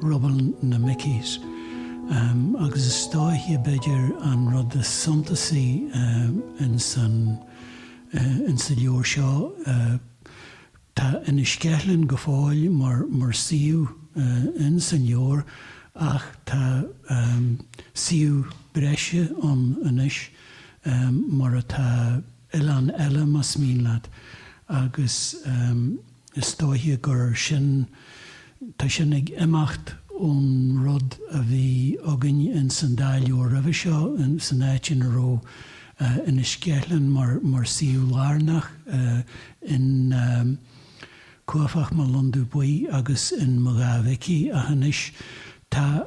Rubble na Mickies. Agus is dóiche b'fhéidir an rud is suntasaí insa leabhar seo, tá Inis Ceithleann go fóill mar suíomh insa leabhar ach tá suíomh breise ann anois, mar atá oileán eile más mian leat, agus. Is dóiche gur sin, tá sin ag imeacht ón rud a bhí againn ins an dá leabhar roimhe seo, san áit ina raibh Inis Ceithleann mar suíomh lárnach in Cuaifeach Mo Londubh Buí agus in Mo Dhá Mhicí, ach anois tá.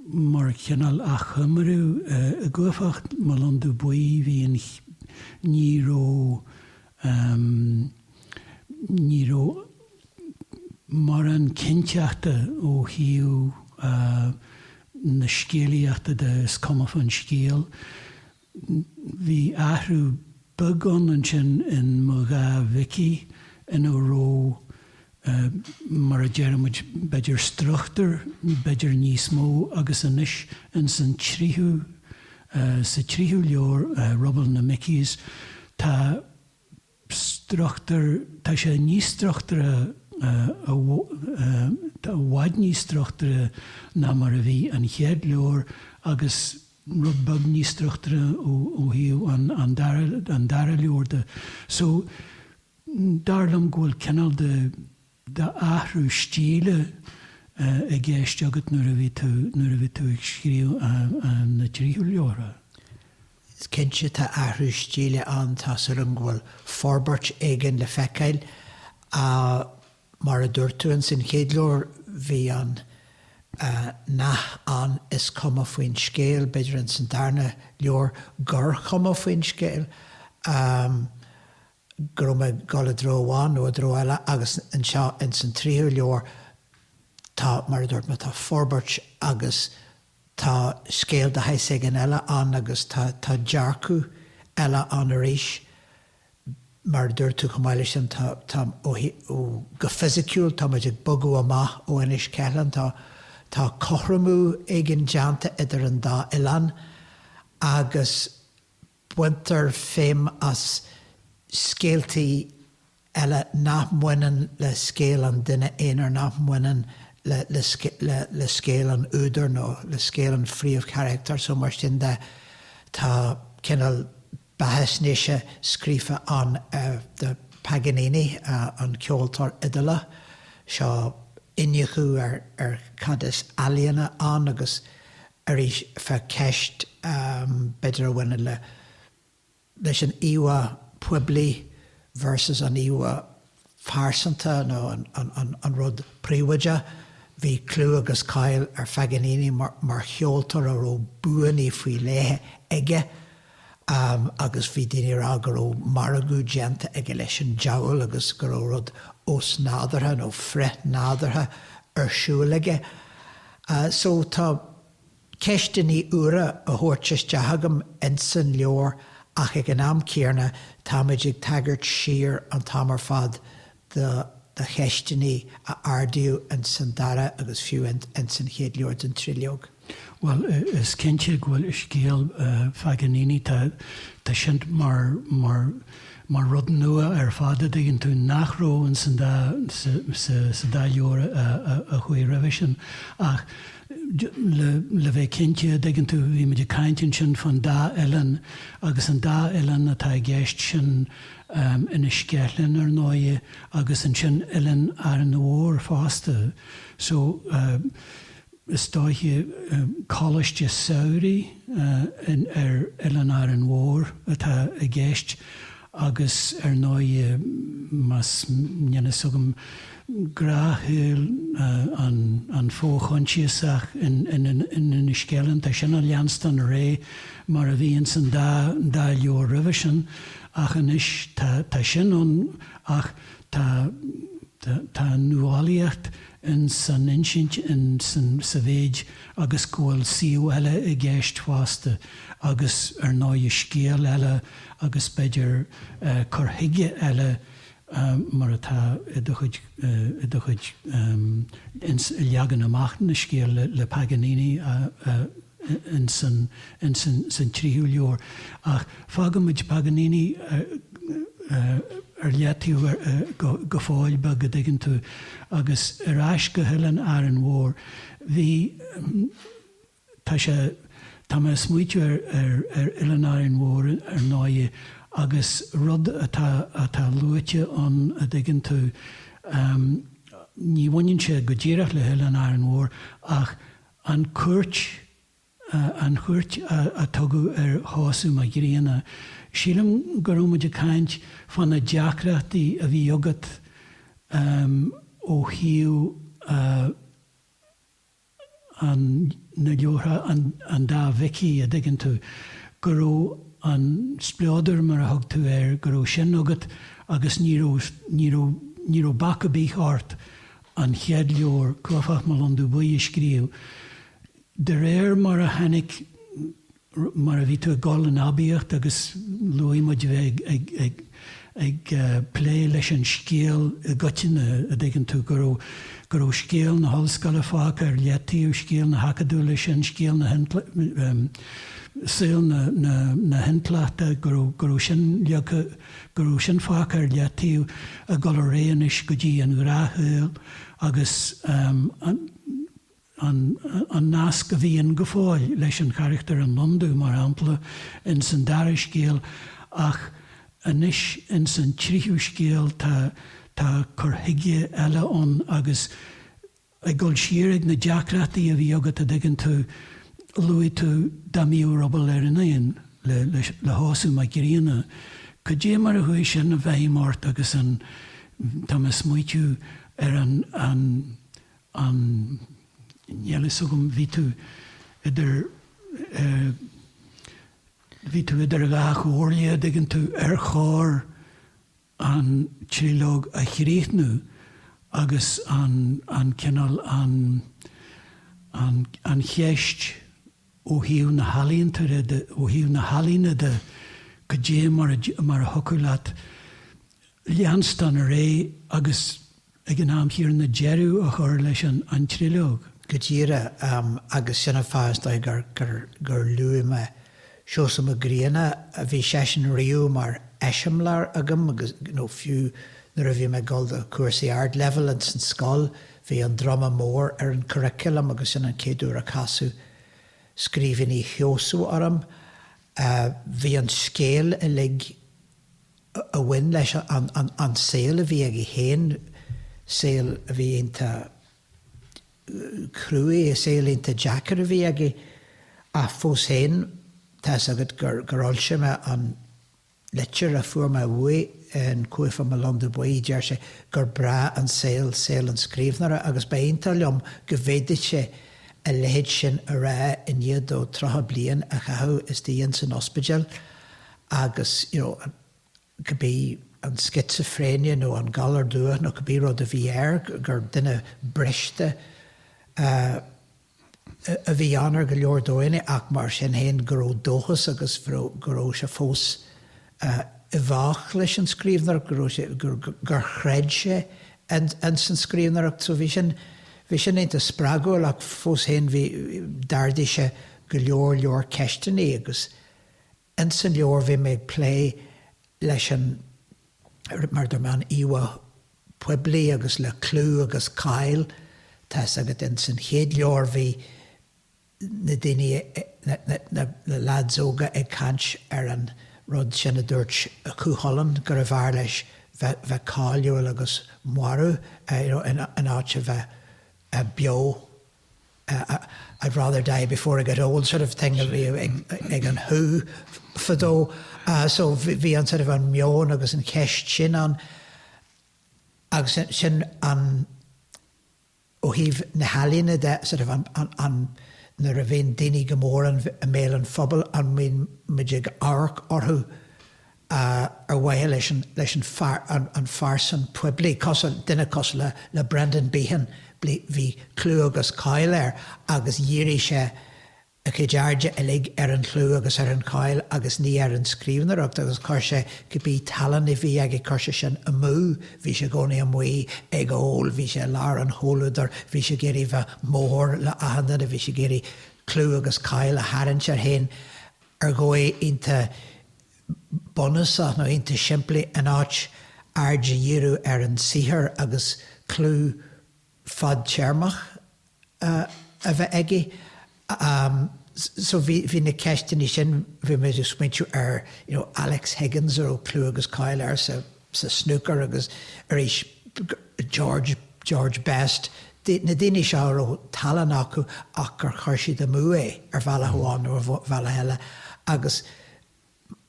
Mar chineál achoimriú, i gCuaifeach Mo Londubh Buí bhí an, ní raibh, ní raibh mórán cinnteachta ó thaobh na scéalaíochta de, is cuma fán scéal. Bhí athrú beag ann ansin in Mo Dhá Mhicí ina raibh, mar a deir muid, b'fhéidir struchtúr, b'fhéidir níos mó, agus anois ins an tríú, sa tríú leabhar, Rubble na Mickies, tá struchtúr, tá sé níos struchtúrtha, i bhfad níos struchtúrtha ná mar a bhí an chéad leabhar agus rud beag níos struchtúrtha ó thaobh an dara leabhar de. So dar liom go bhfuil cineál de, d'athrú stíle i gceist agat nuair a bhí tú, nuair a bhí tú ag scríobh na tríú leabhar? Is cinnte tá athrú stíle ann, tá súil agam go bhfuil forbairt éigin le feiceáil ach mar a dúirt tú in san chéad leabhar bhí an nath ann is cuma faoin scéal, b'fhéidir in san darna leabhar gur chuma faoin scéal. go raibh mé ag dul i dtreo amháin nó i dtreo eile agus anseo ins an tríú leabhar tá, mar a dúirt mé, tá forbairt agus tá scéal de shaghas éigin eile ann agus tá dearcadh eile ann arís. Mar a dúirt tú chomh maith leis sin tá, tá, ó thaobh, ó, go fisiciúil tá muid ag bogadh amach ó Inis Ceithleann, tá, tá cothromú éigin déanta idir an dá oileán agus, Baintear feidhm as scéaltaí eile nach mbaineann le scéal an duine aonair, nach mbaineann le scéal an údair nó le scéal an phríomhcharachtair so. Mar sin de, tá cineál beathaisnéise scríofa ann de Paganini, an ceoltóir Iodálach seo, iniúchadh ar cad is ealaíona ann agus arís feadh ceist, b'fhéidir, a bhaineann le, leis an íomhá poiblí versus an íomhá phearsanta nó an rud príobháideach. Bhí clú agus cáil ar Phaganini mar cheoltóir a raibh buanna faoi leith aige, agus bhí daoine ag rá go raibh margadh déanta aige leis an diabhal agus go raibh rud osnádúrtha nó frithnádúrtha ar siúl aige. So tá ceisteannaí úra á thabhairt isteach agam ins an leabhar ach ag an am céarna táimid ag tagairt siar an t-am ar fad do cheisteannaí a ardaíodh ins an dara agus fiú ins an chéad leabhar den triológ. Bhuel, is cinnte go bhfuil scéal Phaganini, tá sin mar rud nua ar fad, a dtuigeann tú, nach raibh ins an dá, sa dá leabhar a chuaigh roimhe sin. Ach le bheith cinnte, a dtuigeann tú, bhí muid ag caint ansin fán dá oileán agus an dá oileán atá i gceist, sin, Inis Ceithleann ar ndóighe agus ansin Oileán Árainn Mhór fosta. So is dóiche coláiste samhraidh ar Oileán Árainn Mhór atá i gceist agus ar ndóighe más, níl a fhios agam, gnáthshaol an fho-choinsiasach in Inis Ceithleann, tá sin ag leanstan ar aghaidh mar a bhí ins an dá leabhar roimhe sin. Ach anois tá sin ann ach tá tá an nuálaíocht in san insint in san sa mhéid agus go bhfuil suíomh eile i gceist fosta agus ar ndóighe scéal eile agus b'fhéidir cur chuige eile mar atá i do chuid, i do chuid, ins a leagan amach na scéal le, le Paganini ins an, ins an, san tríú leabhar. Ach fágfaimid Paganini ar leataobh go, go fóill beag, a' dtuigeann tú. Agus ar ais go hOileán Árainn Mhór. Bhí. Tá sé, tá mé ag smaoitiú ar, ar, ar Oileán Árainn Mhór ar ndóigh agus rud atá, atá luaite ann a dtuigeann tú, ní bhaineann sé go díreach le hOileán Árainn Mhór ach an cuairt, an chuairt a tugadh ar Sheosamh Mac Grianna. Sílim go raibh muid ag caint fá na deacrachtaí a bhí agat ó thaobh, an, na leabhartha, an, an dá Mhicí, a' dtuigeann tú, go raibh an spleodar mar a thug tú air, go raibh sin agat agus ní raibh, ní raibh, ní raibh bac a' bith ort an chéad leabhar, Cuaifeach Mo Londubh Buí, a scríobh de réir mar a tháinig, mar a bhí tú ag dul in aibíocht agus luaigh muid a bheith ag plé leis an scéal i gcoitinne, a' dtuigeann tú, go raibh, go raibh scéal na hollscoile fágtha ar leataobh, scéal na hacadúla, sin scéal na, saol na hintleachta, go raibh, go raibh sin leagtha, go raibh sin fágtha ar leataobh ag dul ar aghaidh anois go dtí an ghnáthshaol agus an, an nasc a bhíonn go fóill leis an charachtar in Londubh, mar shampla, ins an dara scéal, ach anois ins an tríthú scéal tá tá cur chuige eile ann agus ag dul siar ag na deacrachtaí a bhí agat, a' dtuigeann tú, luaigh tú Dá mBíodh Ruball ar an Éan le le le Sheosamh Mac Grianna, cad é mar a chuaigh sin i bhfeidhm ort agus an tá mé a' smaoitiú ar an an an níl fhios agam, bhí tú idir eh, bhí tú idir dhá chomhairle, dtuigeann tú, ar chóir an tríológ a chríochnú agus an, an cineál an, an, an cheist ó thaobh na healaíonta de, ó thaobh na healaíne de, cad é mar a, mar a thiocfadh leat leanstan ar aghaidh agus, ag an am chéanna, deireadh a chur leis an an tríológ. go díreach agus sin an fáth, is dóigh, gur luaigh mé Seosamh Mac Grianna. Bhí seisean riamh mar eiseamláir agam agus, nó fiú nuair a bhí mé ag dul do chúrsaí Ardleibhéil ins an scoil, bhí An Druma Mór ar an curriculum agus sin an chéad uair a casadh scríbhinní Sheosaimh orm. Bhí an scéal uilig. a bhain leis an saol a bhí aige féin, saol a bhí iontach cruaidh, saol iontach deacair a bhí aige, ach fós féin, tá's agat gur fhoilsigh mé an litir a fuair mé uaidh in Cuaifeach Mo Londubh Buí, deir sé gur breá an saol saol an scríbhneora agus ba iontach liom go bhféadfadh sé a leithéid sin a rá i ndiaidh dó tríocha bliain a chaitheamh is dóigh liom san ospidéal. agus you know an, cibé an schizophrenia nó an galar dubhach nó cibé rud a bhí air, gur duine briste a bhí ann ar go leor dóigheanna ach mar sin féin go raibh dóchas agus go raibh sé fós i bhfách leis an scríbhneoireacht, go raibh sé, gur chreid sé in san scríbhneoireacht. So bhí sin, bhí sin iontach spreagúil ach fós féin bhí, d'ardaigh sé go leor leor ceisteanna agus. Ins an leabhar bhí mé ag plé leis an, mar dúirt mé, an íomhá poiblí agus le clú agus cáil. Tá fhios agat, ins an chéad leabhar bhí na daoine, na leads óga ag caint ar an rud sin a dúirt Cú Chulainn, gurbh fhearr leis bheith cáiliúil agus marbh, you know, in áit a bheith beo. I'd rather die before I get old sort of thing ag an Who fadó. So bhí an sort of an meon agus an cheist sin ann agus sin an, ó thaobh na healaíne de, sort of an, nuair a bhíonn daoine go mór i mbéal an phobail, an mbíonn muid ag amharc orthu? a ar mhaithe leis an leis an an an phearsan poiblí cosúil duine cosúil le le Brendan Behan bhí bhí clú agus cáil air agus dhírigh sé a chuid airde uilig ar an chlú agus ar an cháil agus ní ar an scríbhneoireacht agus chuir sé cibé tallann a bhí aige chuir sé sin amú bhí sé i gcónaí amuigh ag ól bhí sé i lár an chomhluadair bhí sé ag iarraidh bheith mór le achan duine bhí sé ag iarraidh clú agus cáil a tharraingt air féin ar dhóigh iontach bunúsach nó iontach simplí in áit aird a dhíriú ar an saothar agus clú fadtéarmach a bheith aige. So bhí na ceisteanna sin, bhí mé ag smaointiú ar, you know, Alex Higgins a raibh clú agus cáil air sa, sa snúcar agus arís George, George Best, na daoine seo a raibh tallann acu ach gur chuir siad amú é ar bhealach amháin nó ar bhealach eile agus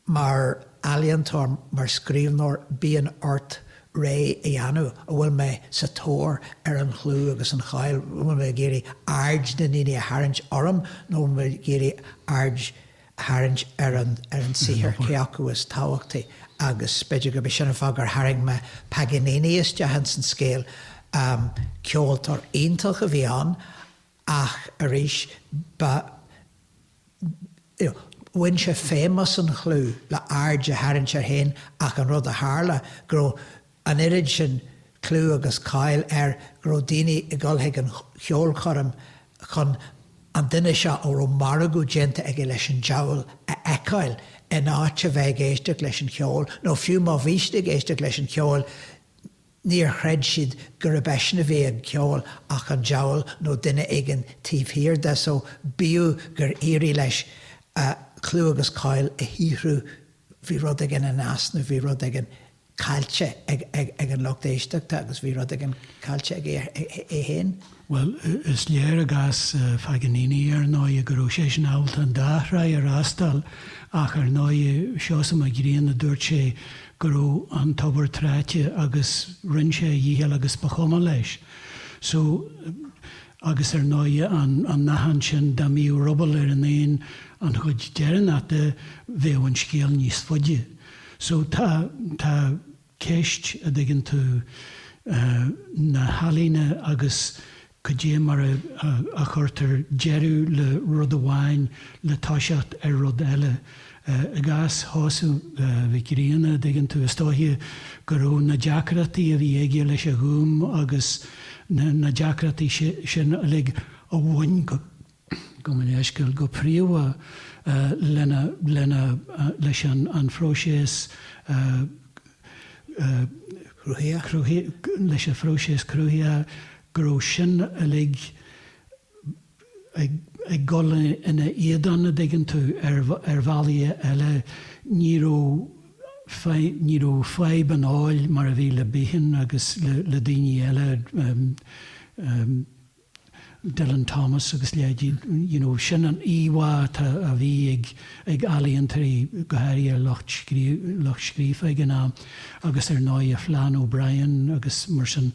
mar ealaíontóir, mar scríbhneoir bíonn ort rogha a dhéanamh, an bhfuil mé sa tóir ar an chlú agus an cháil, an bhfuil mé ag iarraidh aird na ndaoine a tharraingt orm nó an bhfuil mé ag iarraidh aird tharraingt ar an saothar, cé acu is tábhachtaí, agus b'fhéidir gurb é sin an fáth gur tharraing mé Paganini isteach ins an scéal. Ceoltóir iontach a bhí ann ach arís ba, you know, bhain sé feidhm as an chlú le aird a tharraingt air féin ach an rud a tharla go raibh, an oiread sin clú agus cáil air go raibh daoine ag dul chuig an cheolchoirm chun an duine seo a raibh margadh déanta aige leis an diabhal a fheiceáil in áit a bheith ag éisteacht leis an cheol, nó fiú má bhí siad ag éisteacht leis an cheol níor chreid siad gurb eisean a bhí ag ceol ach an diabhal nó duine éigin taobh thiar de so bíodh gur éirigh leis clú agus cáil a shaothrú bhí rud éigin in easnamh, bhí rud éigin caillte ag an lucht éisteachta agus bhí rud éigin caillte aige é féin. Bhuel, is léir i gcás Phaganini, ar ndóigh, go raibh seisean ábalta an dá thráigh a fhreastal ach, ar ndóigh, Seosamh Mac Grianna, dúirt sé go raibh an tobar tráite agus rinne sé a dhícheall agus ba chuma leis. So, agus ar ndóigh, an nathán sin, dá mbíodh ruball ar an éan an chuid deireanach de, bheadh an scéal níos faide. So tá, tá ceist, a' dtuigeann tú, na healaíne agus cad é mar a, a, a chuirtear deireadh le rud amháin le toiseacht ar rud eile. I gcás Sheosamh Mhic Grianna, a' dtuigeann tú, is dóiche go raibh na deacrachtaí a bhí aige leis a' Ghúm agus na, na deacrachtaí sin uilig a bhain go, go mbaineann an scéal go príomha lena, leis an phróiseas, leis an phróiseas cruthaithe, go raibh sin uilig ag dul ina éadan, a' dtuigeann tú, ar bhealaí eile. Ní raibh fadhb an óil mar a bhí le Behan agus le daoiní eile. Dylan Thomas agus a leithéidí, you know, sin an íomhá atá, a bhí ag, ag ealaíontóirí, go háirithe ar lucht scríofa ag an am, agus ar ndóigh a Flann O'Brien agus mar sin,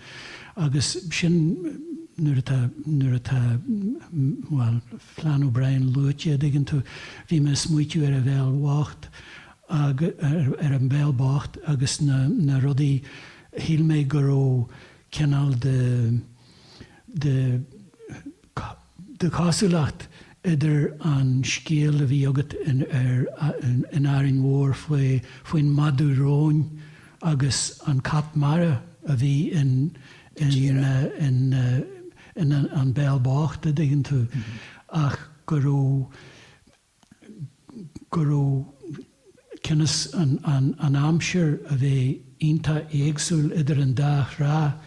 agus sin nuair atá, nuair atá, bhuel, Flann O'Brien luaite dtuigeann tú, bhí mé ag smaoitiú ar an bhéal bhocht, ar An Béal Bocht agus na, na rudaí, shíl mé go raibh, cineál de de de chosúlacht idir an scéal a bhí agat in ar in Árainn Mhór faoi faoin madadh róin agus an cat mara a bhí in in in in An Béal Bocht a dtuigeann tú ach go raibh go raibh cionn is an aimsir a bheith iontach éagsúil idir an dá thráth,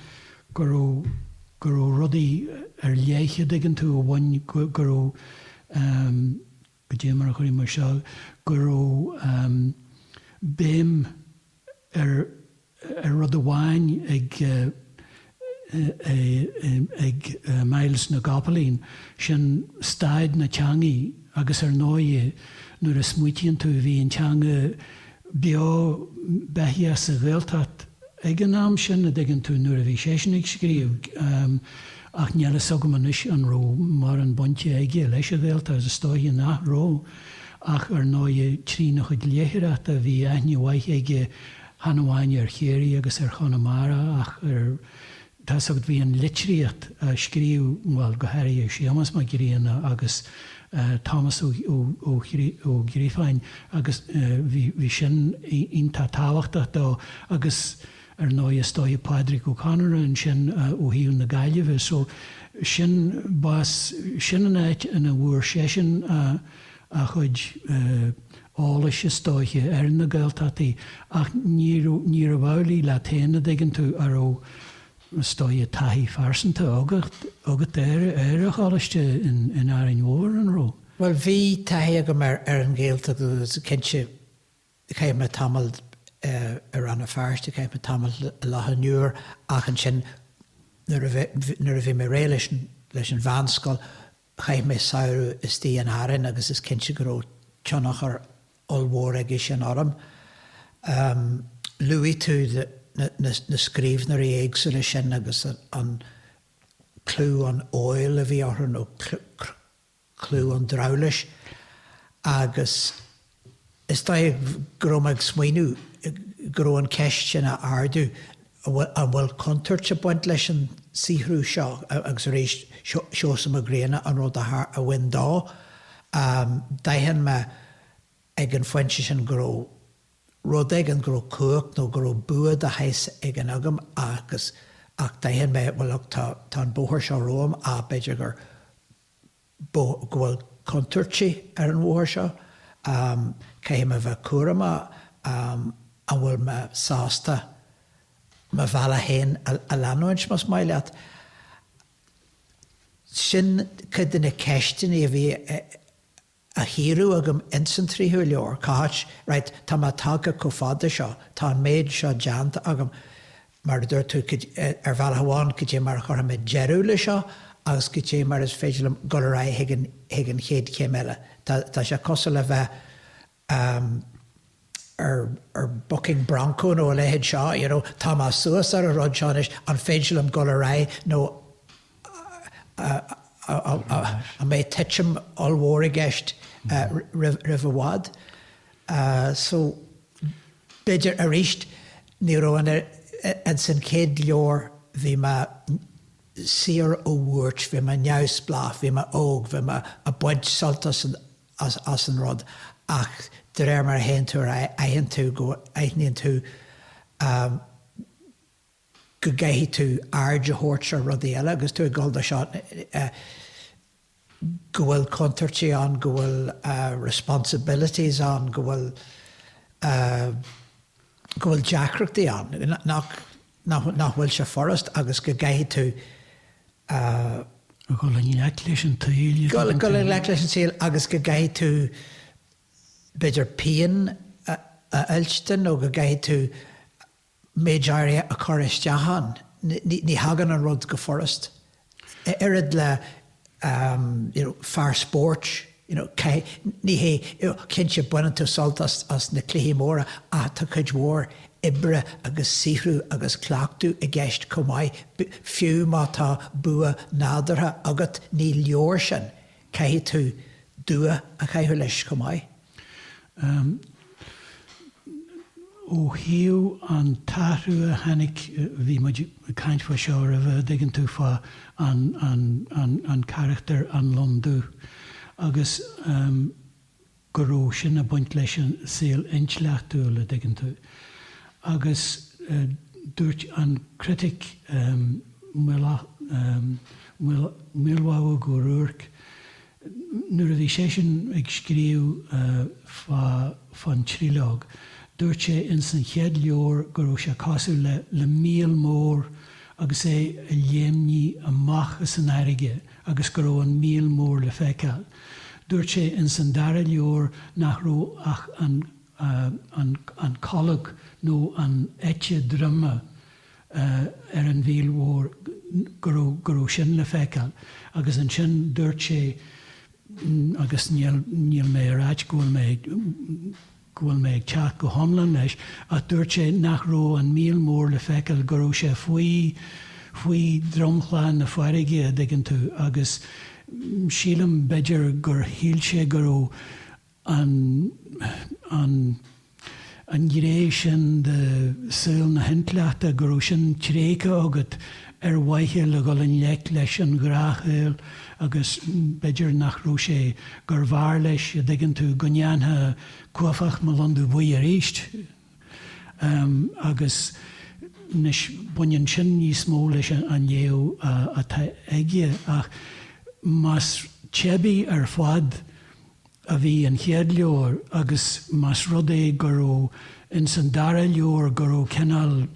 go raibh, go raibh rudaí ar leith an dtuigeann tú a bhain, go raibh, goidé mar a chuirfidh muid seo, go raibh béim ar, ar rud amháin ag Myles na gCopaleen, sin staid na teangaidh agus ar ndóighe nuair a smaoitíonn tú bhí an teanga beo beithíoch sa Ghaeltacht ag an am sin, an dtuigeann tú, nuair a bhí seisean ag scríobh ach níl fhios agam anois an raibh mórán bainte aige leis an Ghaeltacht, is dóiche nach raibh ach ar ndóighe trína chuid léitheoireachta bhí aithne mhaith aige chan amháin ar Chiarraí agus ar Chonamara ach ar Thír Chonaill bhí an litríocht á scríobh, bhuel, go háirithe ag Séamas Mac Grianna agus Tomás Ó Criomhthain agus bhí sin iontach tábhachtach dó agus ar ndóigh is dóigh Pádraic Ó Conaire ansin ó thaobh na Gaillimhe so sin bás, sin an áit ina bhfuair seisean a a chuid eolais, is dóiche, ar na Gaeltachtaí, ach níorbh amhlaidh leat féin, an dtuigeann tú, a raibh, is dóiche, taithí phearsanta agat ar an choláiste in Árainn Mhór, an raibh? Bhuel, bhí taithí agam ar an nGaeltacht agus cinnte chaith mé tamall i Rann na Feirste, chaith mé tamall i Loch an Iúir ach ansin nuair a bhí mé réidh leis an mheánscoil, Chaith mé samhradh istigh in Árainn agus is cinnte go raibh tionchar ollmhór aige sin orm. Luaigh tú na scríbhneoirí éagsúla sin agus an clú, an óil a bhí orthu nó clú an drabhláis agus, Is dóigh go raibh mé ag smaoineamh go raibh an cheist sin a ardú, an bhfuil contúirt ag baint leis an saothrú seo agus arís Seosamh Mac Grianna an rud a bhain dó. D'aithin mé ag an phointe sin go raibh rud éigin, go raibh cumhacht nó go raibh bua de shaghas éigin agam agus, ach d'aithin mé, bhuel, tá an bóthar seo romham, á, b'fhéidir gur. go bhfuil contúirtí ar an bhóthar seo. Caithfidh mé bheith cúramach an bhfuil mé sásta mo bhealach féin a leanúint, más maith leat. Sin cuid de na ceisteanna a bhí á gcíoradh agam ins an tríú leabhar. Cá háit, right, tá mé tagtha chomh fada seo, tá an méid seo déanta agam, mar a dúirt tú, ar bhealach amháin, cad é mar a chuirfimid deireadh leis seo agus cad é mar is féidir liom dul ar aghaidh chuig an chéad chéim eile. Tá sé cosúil le bheith ar bucking bronco nó a leithéid seo, you know, tá mé suas ar an rud seo anois, an féidir liom dul ar aghaidh nó an mbeidh tuitim ollmhór i gceist roimh i bhfad. So. B'fhéidir arís ní raibh ann, ins an chéad leabhar bhí mé saor ó bhuairt, bhí mé neamhspleách, bhí mé óg, bhí mé ag baint sult as an rud ach de réir mar a théann tú ar aghaidh aithin tú go aithníonn tú go gcaithfidh tú aird a thabhairt ar rudaí eile agus tú ag dul dó seo, go bhfuil contúirtí ann, go bhfuil responsibilities ann, go bhfuil, go bhfuil deacrachtaí ann, nach, nach bhfuil sé furast agus go gcaithfidh tú. dul i ngleic leis an tsaoil. dul i ngleic leis an tsaoil agus go gcaithfidh tú b'fhéidir pian a fhuilstean nó go gcaithfidh tú, méid áirithe a chur isteach ann. Ní thagann an rud go furast. Oiread le you know fear spóirt you know caithfidh, ní hé, cinnte baineann tú sult as na cluichí móra ach tá cuid mhór oibre agus saothrú agus cleachtadh i gceist chomh maith. Fiú má tá bua nádúrtha agat ní leor sin, caithfidh tú dua a chaitheamh leis chomh maith. Ó thaobh an t-athrú a tháinig, bhí muid ag caint fá seo roimhe, dtuigeann tú, fá an carachtar, an londú agus go raibh sin ag baint leis an saol intleachtúil, a dtuigeann tú. Agus dúirt an critic Maolmhaodhóg Ó Ruairc, Nuair a bhí seisean ag scríobh fá fán tríológ, dúirt sé ins an chéad leabhar go rabh sé cosúil le, le míol mór agus é ag léimnigh amach as an fhairrge agus go rabh an míol mór le feiceáil. Dúirt sé ins an dara leabhar nach rabh ach an, an, an, an colg nó an eite droma, ar an mhíol mhór go raibh, go raibh sin le feiceáil agus ansin dúirt sé agus níl mé ag ráit go bhfuil mé, go bhfuil mé ag teacht go hiomlán leis ach dúirt sé nach raibh an Míol Mór le feiceáil, go raibh sé faoi dhromchla na farraige, a dtuigeann tú, agus sílim, b'fhéidir gur shíl sé go raibh an an an ghré sin de shaol na hintleachta go raibh sin tréigthe agat ar mhaithe le dhul i ngleic leis an ghnáthshaol agus b'fhéidir nach raibh sé, gur bhfearr leis, a' dtuigeann tú, go ndéanfá Cuaifeach Mo Londubh Buí aríst. Em. agus anois baineann sin níos mó leis an léamh atá aige ach más teibí ar fad a bhí an chéad leabhar agus más rud é go raibh ins an dara leabhar go raibh cineál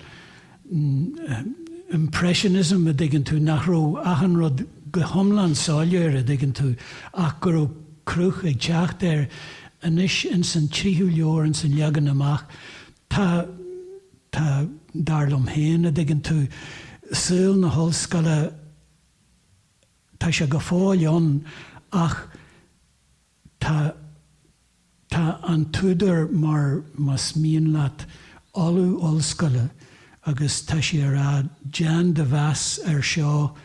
impressionism a dtuigeann tú, nach raibh achan rud go hiomlán soiléir a dtuigeann tú ach go raibh cruth ag teacht air, anois ins an tríú leabhar, ins an leagan amach, tá, tá, dar liom féin, a dtuigeann tú, saol na hollscoile Tá sé go fóill ann ach tá tá an t-údar mar más mian leat Ollamh Ollscoile agus tá sé á rá déan de mheas ar seo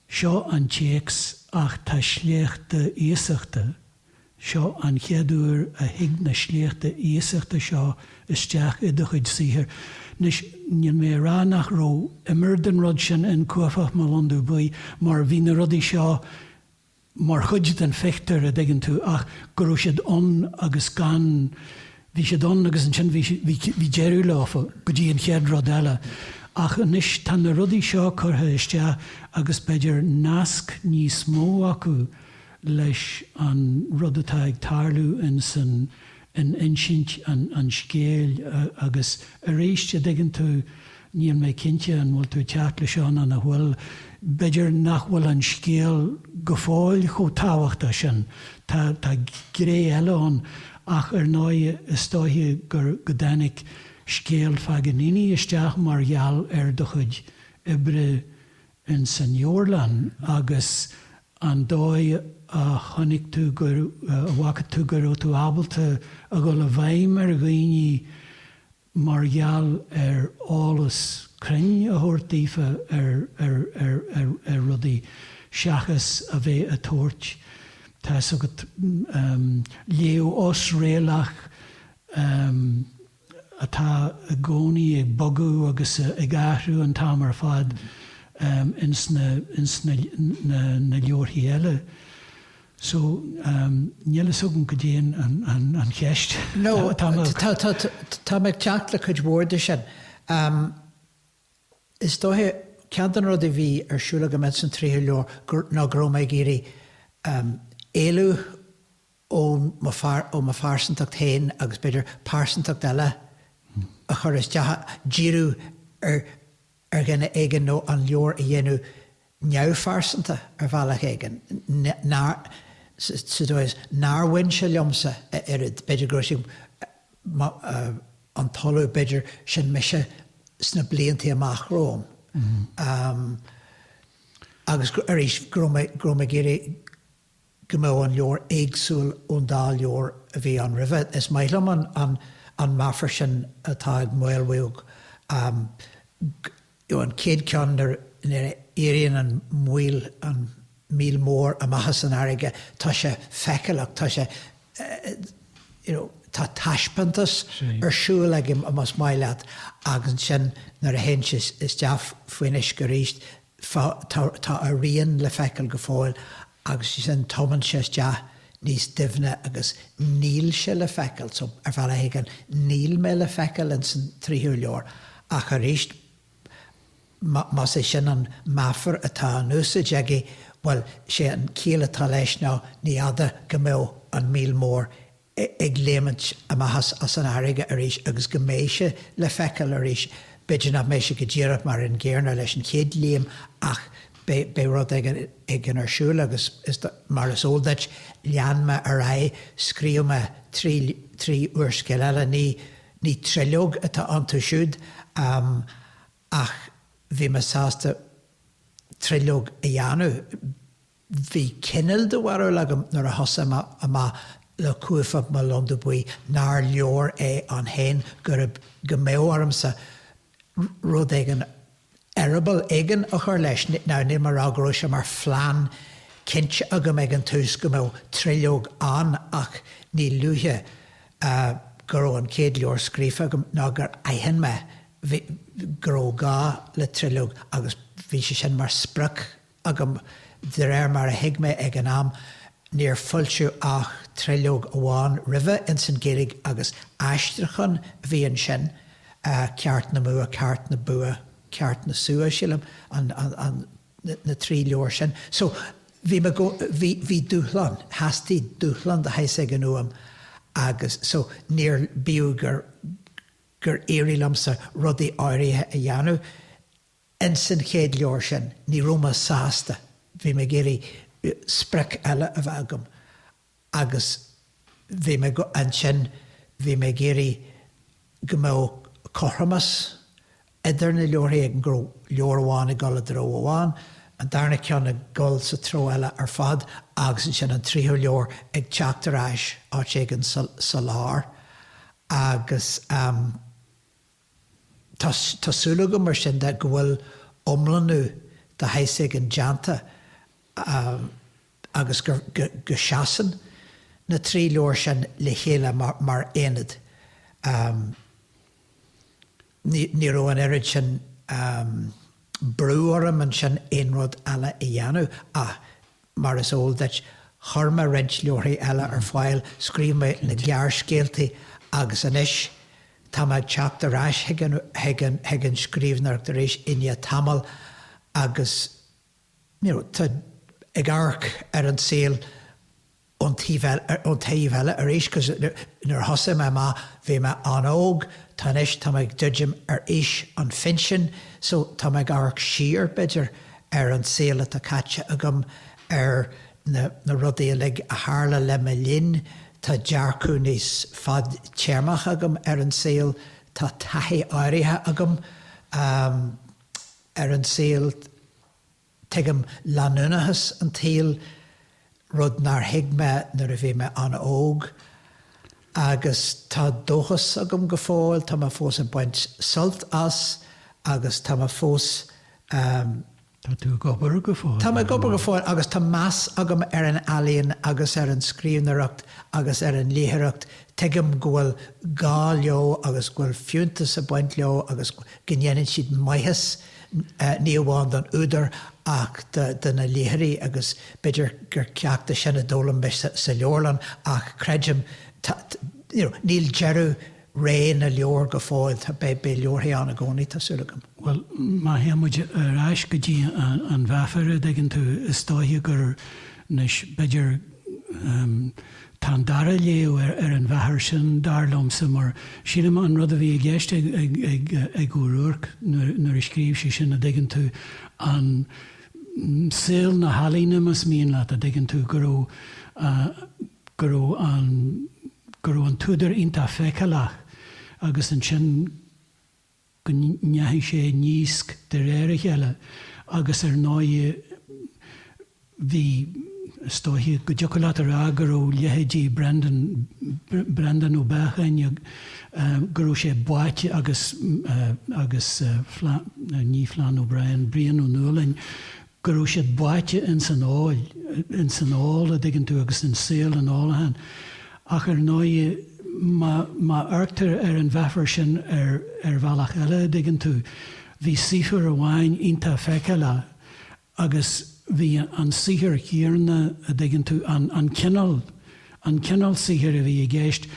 seo an téacs ach tá sleachta iasachta, Seo an chéad uair a thig na sleachta iasachta seo isteach i do chuid saothar. Anois, níl mé ag rá nach raibh imir den rud sin in Cuaifeach Mo Londubh Buí, mar bhí na rudaí seo mar chuid den phictiúr, a' dtuigeann tú, ach go raibh siad ann agus gan, bhí siad ann agus ansin bhí, bhí, bhí deireadh leofa, go dtí an chéad rud eile. Ach anois, tá na rudaí seo curtha isteach agus b'fhéidir nasc níos mó acu leis an rud atá ag tarlú ins an insint an scéil agus aríst, a' dtuigeann tú, níl mé cinnte an bhfuil tú ag teacht leis seo ná nach bhfuil, b'fhéidir nach bhfuil an scéal go fóill chomh tábhachtach sin, tá gré eile ann ach ar ndóigh is dóiche gur, go dtáinig scéal Phaganini isteach mar gheall ar do chuid oibre ins an Fheoirling agus an dóigh a chonaic tú go, a bhfaca tú go raibh tú ábalta a dhul i bhfeidhm ar dhaoine mar gheall ar eolas cruinn a thabhairt daofa ar, ar, ar, ar, ar rudaí seachas a bheith a' tabhairt, tá's agat, léamh osréalach. atá i gcónaí ag bogadh agus ag athrú an t-am ar fad ins na leabharthaí eile so níl a fhios agam cad é an cheist No, tá mé ag teacht le cuid mhór de sin. Is dóiche, ceann de na rudaí a bhí ar siúl agam ins an tríú leabhar ná go raibh mé ag iarraidh éalú ó mo phearsantacht féin agus, b'fhéidir, pearsantacht eile a chur isteach, díriú ar dhuine éigin nó an leabhar a dhéanamh neamhphearsanta ar bhealach éigin, sa dóigh is nár bhain sé liomsa a oiread, b'fhéidir gurb é an tOllamh, b'fhéidir, sin mise sna blianta amach romham. Agus arís, go raibh mé ag iarraidh. go mbeadh an leabhar éagsúil ón dá leabhar a bhí ann roimhe. Is maith liom an meafar sin atá ag Maolmhaodhg, an chéad cheann nuair a éiríonn an míol, an míol mór, amach as an fharraige, tá sé feiceálach, tá sé, you know, tá taispeántas ar siúl aige, más maith leat, agus ansin nuair a théann sé isteach faoin uisce arís, Tá a rian le feiceáil go fóill agus ansin tomann sé isteach níos doimhne agus níl sé le feiceáil, so ar bhealach éigin níl mé le feiceáil ins an tríothu leabhar. Ach arís, más é sin an meafar atá in úsaid aige, bhuel, sé an chiall atá leis ná ní fada go mbeidh an míol mór ag léimint amach as an fharraige arís agus go mbeidh sé le feiceáil arís. B'fhéidir nach mbeidh sé go díreach mar an gcéanna leis an chéad léim ach beidh rud éigin ar siúl agus, mar is eol duit, lean mé ar aghaidh, scríobh mé trí úrscéal eile, ní tríológ atá iontu siúd ach bhí mé sásta tríológ a dhéanamh. Bhí cineál de bharúil agam nuair a thosaigh mé amach le Cuaifeach mo Londubh Buí nár leor é ann féin, gurb, go mbeadh ormsa rud éigin, eireaball éigin a chur leis. Now, níl mé a rá go raibh sé mar phlean cinnte agam ag an tús go mbeadh tríológ ann ach ní luaithe go raibh an chéad leabhar scríofa agam ná gur aithin mé go raibh gá le tríológ agus bhí sé sin mar sprioc agam, de réir mar a thuig mé ag an am, níor foilsíodh ach tríológ amháin roimhe ins an Ghaeilge, agus aistriuchán a bhí ansin, Ceart nó Bua, Ceart na Bua, Ceart na Sua, sílim, an, na trí leabhar sin. So, bhí mé go, bhí, bhí dúshlán, theastaigh dúshlán de shaghas éigin uaim agus so níor, bíodh gur, gur éirigh liomsa rudaí áirithe a dhéanamh, Ins an chéad leabhar sin, ní raibh mé sásta, bhí mé ag iarraidh sprioc eile a bheith agam agus bhí mé, ansin, bhí mé ag iarraidh go mbeadh cothromas idir na leabharthaí, go raibh leabhar amháin ag dul i dtreo amháin, an darna ceann ag dul sa treo eile ar fad agus ansin an tríú leabhar ag teacht ar ais áit éigin sa lár. Agus. Tá súil agam, mar sin de, go bhfuil iomlánú de shaghas éigin déanta agus go seasann na trí leabhar sin le chéile mar aonad. Ní raibh an oiread sin brú orm ansin aon rud eile a dhéanamh ach. Mar is eol duit, chuir mé roinnt leabharthaí eile ar fáil, scríobh mé na gearrscéaltaí agus anois tá mé ag teacht ar ais chuig an scríbhneoireacht arís i ndiaidh tamaill agus tá ag amharc ar an saol ón taobh eile ar ais cos nuair a thosaigh mé amach, bhí mé an-óg, tá anois, tá mé ag druidim ar aois an phinsin so tá mé ag amharc siar, b'fhéidir, ar an saol atá caite agam, ar na rudaí uilig a tharla le mo linn, tá dearcadh níos fadtéarmach agam ar an saol, tá taithí áirithe agam ar an saol, tuigim leanúnachas an tsaoil. rud nár thuig mé nuair a bhí mé an-óg, agus tá dóchas agam go fóill, tá mé fós ag baint sult as agus tá mé fós um. Tá tú ag obair go fóill. Tá mé ag obair go fóill agus tá meas agam ar an ealaíon agus ar an scríbhneoireacht agus ar an léitheoireacht, tuigim go bhfuil gá leo agus go bhfuil fiúntas ag baint leo agus go ndéanann siad maitheas ní amháin don údar ach do na léitheoirí agus b'fhéidir gur ceacht é sin a d'fhoghlaim mé sa leabharlann ach creidim, you know, níl deireadh ré na leabhar go fóill, tá, beidh leabharthaí ann i gcónaí, tá súil agam. Bhuel, má théann muid ar ais go dtí an mheafar, a' dtuigeann tú, is dóiche gur, you know 's, b'fhéidir, em, Tá an dara léamh ar an mheafar sin, dar liomsa, mar sílim an rud a bhí i gceist ag Ó Ruairc nuair a scríobh sé sin, a' dtuigeann tú, i saol na healaíne, más mian leat, a' dtuigeann tú, go raibh, go raibh an, go raibh an t-údar iontach feiceálach agus ansin, go ndeachaigh sé i ndísc de réir a chéile agus ar ndóigh bhí, is dóiche go dtiocfadh leat a rá go raibh leithéidí Brendan, Breandán Ó Beacháin, go raibh sé báite agus, agus ní Flann O'Brien, Brian Ó Nualláin, go raibh siad báite ins an ól, ins an ól, a' dtuigeann tú, agus ins saol an ólacháin. Ach ar ndóighe, má, má amharctar ar an mheafar sin ar, ar bhealach eile, a' dtuigeann tú, bhí saothar amháin iontach feiceálach agus bhí an saothar céarna, a' dtuigeann tú, an, an cineál, an cineál saothair a bhí i gceist,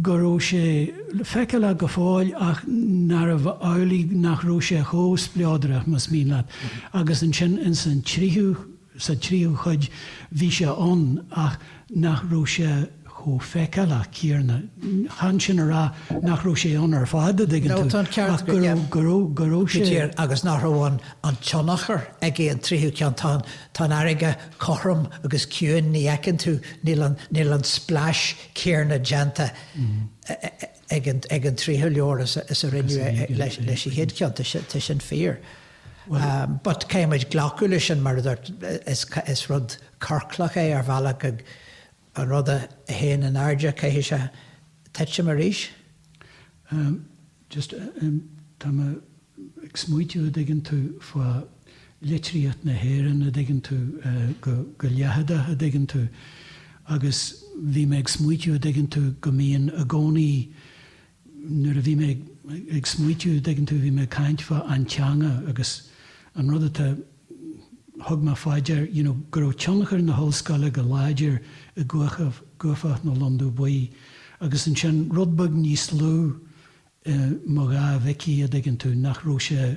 go raibh sé feiceálach go fóill ach nárbh amhlaidh nach raibh sé chomh spleodrach, más mian leat, agus ansin ins an tríú, sa tríú cuid bhí sé ann ach nach raibh sé chomh feiceálach céarna. Chan sin a rá nach raibh sé ann ar fad, a' dtuigeann tú, ach go raibh, go raibh, go raibh sé. Go diair agus nach raibh an tionchar ag an tríú ceann, tá an. Tá an fharraige cothrom agus ciúin, ní fheiceann tú, níl an splais chéarna déanta ag an tríú leabhar is a rinneadh leis an chéad cheann, tá sin fíor. But caithfidh muid glacadh leis sin mar a dúirt, is rud ciorclach é ar bhealach, An rud a théann in airde, caithfidh sé tuitim arís. Ahem. Just, ahem, tá mé ag smaoitiú, a' dtuigeann tú, fá litríocht na hÉireann, a' dtuigeann tú, go, go leitheadach, a' dtuigeann tú, agus bhí mé ag smaoitiú, a' dtuigeann tú, go mbíonn i gcónaí, Nuair a bhí mé ag smaoitiú, dtuigeann tú, bhí mé ag caint fá an teanga agus an rud atá, thug mé fá dear, you know, go raibh tionchar na hollscoile go láidir i gCuaifeach Mo Londubh Buí agus ansin rud beag níos lú i Mo Dhá Mhicí, a dtuigeann tú, nach raibh sé,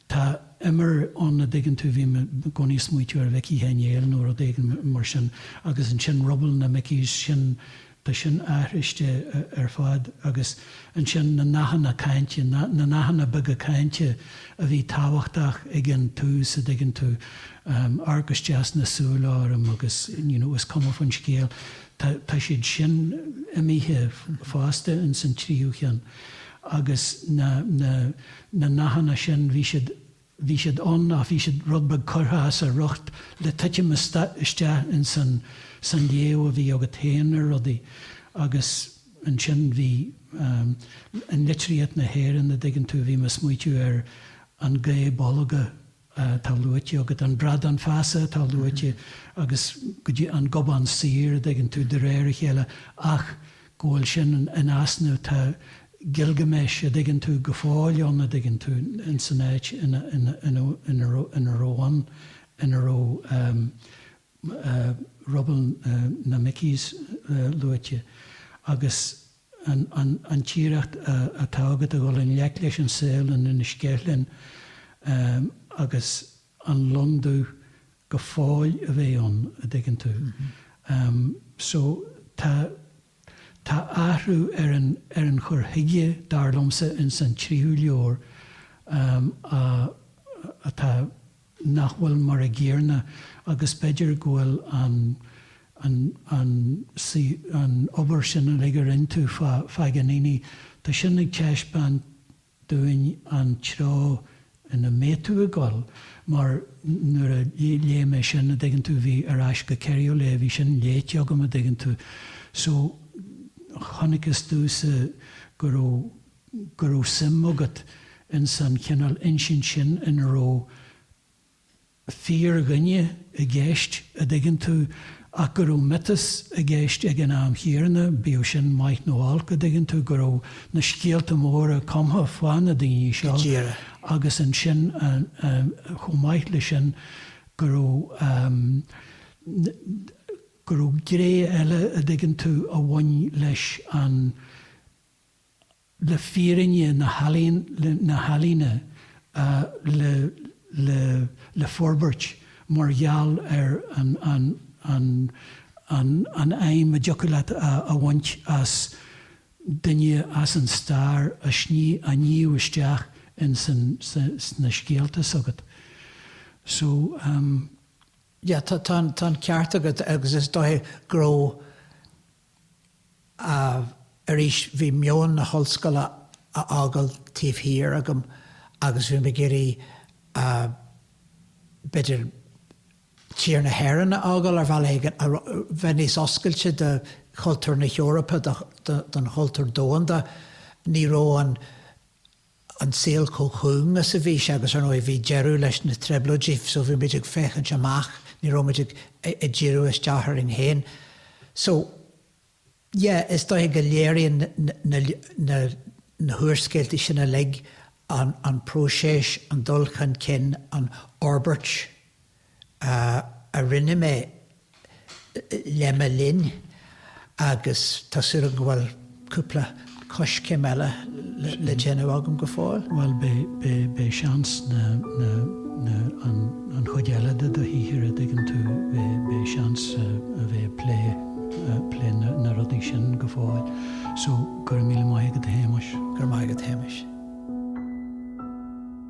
Tá imir ann, a' dtuigeann tú, bhí mé i gcónaí a' smaoitiú ar Mhicí Sheáin Néill nó rud éigin mar sin agus ansin Rubble na Mickies sin, tá sin athraiste ar fad agus ansin na nathanna cainte, na nathanna beaga cainte a bhí tábhachtach ag an tús, a' dtuigeann tú, amharc isteach sna súile orm agus you know, is cuma faoin scéal, tá, tá siad sin imithe fosta ins an tríú cheann agus na, na, na nathanna sin, bhí siad, bhí siad ann ach bhí siad rud beag curtha as a riocht le titim isteach ins an, san léamh a bhí agat féin ar rudaí agus ansin bhí ehm, in litríocht na hÉireann a' dtuigeann tú, bhí mé a' smaoitiú ar an Gae Bolga, atá luaite agat, an Bradán Feasa atá luaite agus go dtí an Gobán Saor a dtuigeann tú de réir a chéile ach go bhfuil sin in easnamh. Tá Gilgamesh a dtuigeann tú go fóill ann, a dtuigeann tú, in san áit ina raibh an, ina raibh Rubble na Mickies luaite agus. an t-iarracht atá agat a dhul i ngleic leis an saol in Inis Ceithleann agus an lon dubh go fóill a bheith ann, a dtuigeann tú. So tá tá athrú ar an ar an chur chuige, dar liomsa, ins an tríú leabhar a atá. nach bhfuil mar a gcéarna agus b'fhéidir go bhfuil an an an an obair sin uilig a rinne tú fá Phaganini. Tá sin ag taispeáint dúinn an treo ina mbeidh tú ag dul mar nuair a léigh mé sin a dtuigeann tú bhí Ar Ais go Keriolet bhí sin léite agam a dtuigeann tú so chonacthas domhsa go raibh go raibh suim agat ins an chineál insint sin ina raibh fíor-dhuine i gceist, a' dtuigeann tú, ach go raibh miotas i gceist ag an am chéarna, bíodh sin maith nó olc, a' dtuigeann tú, go raibh na scéalta móra cumtha fá na daoiní seo agus ansin chomh maith le sin go raibh, go raibh gné eile, a' dtuigeann tú, a bhain leis an. le fírinne na healaíne, le forbairt mar gheall ar an fheidhm a dtiocfadh leat a bhaint as duine as an stair a shníomh isteach in sna scéalta s'agat. So. Yeah, tá an ceart agat agus is dóiche go raibh ámh, arís, bhí meon na hollscoile á fhágáil taobh thiar agam agus bhí mé ag iarraidh, b'fhéidir, tír na hÉireann a fhágáil ar bhealach éigin, a bheith níos oscailte do chultúr na hEorpa, don chultúr domhanda. Ní raibh an. an saol chomh cúng is a bhí sé agus, ar ndóigh, bhí deireadh leis na Trioblóidí so bhí muid ag féachaint amach, ní raibh muid ag díriú isteach orainn féin. So, yeah, is dóiche go léiríonn na húrscéalta sin uilig an próiseas, an dul chun cinn, an fhorbairt. a rinne mé le mo linn agus tá súil agam go bhfuil cúpla coiscéim eile le déanamh agam go fóill. Bhuel, beidh seans an chuid eile de do shaothar, a' dtuigeann tú, beidh seans a bheith ag plé, plé na rudaí sin go fóill so go raibh míle maith agat a Shéamais. Go raibh maith agat Shéamais.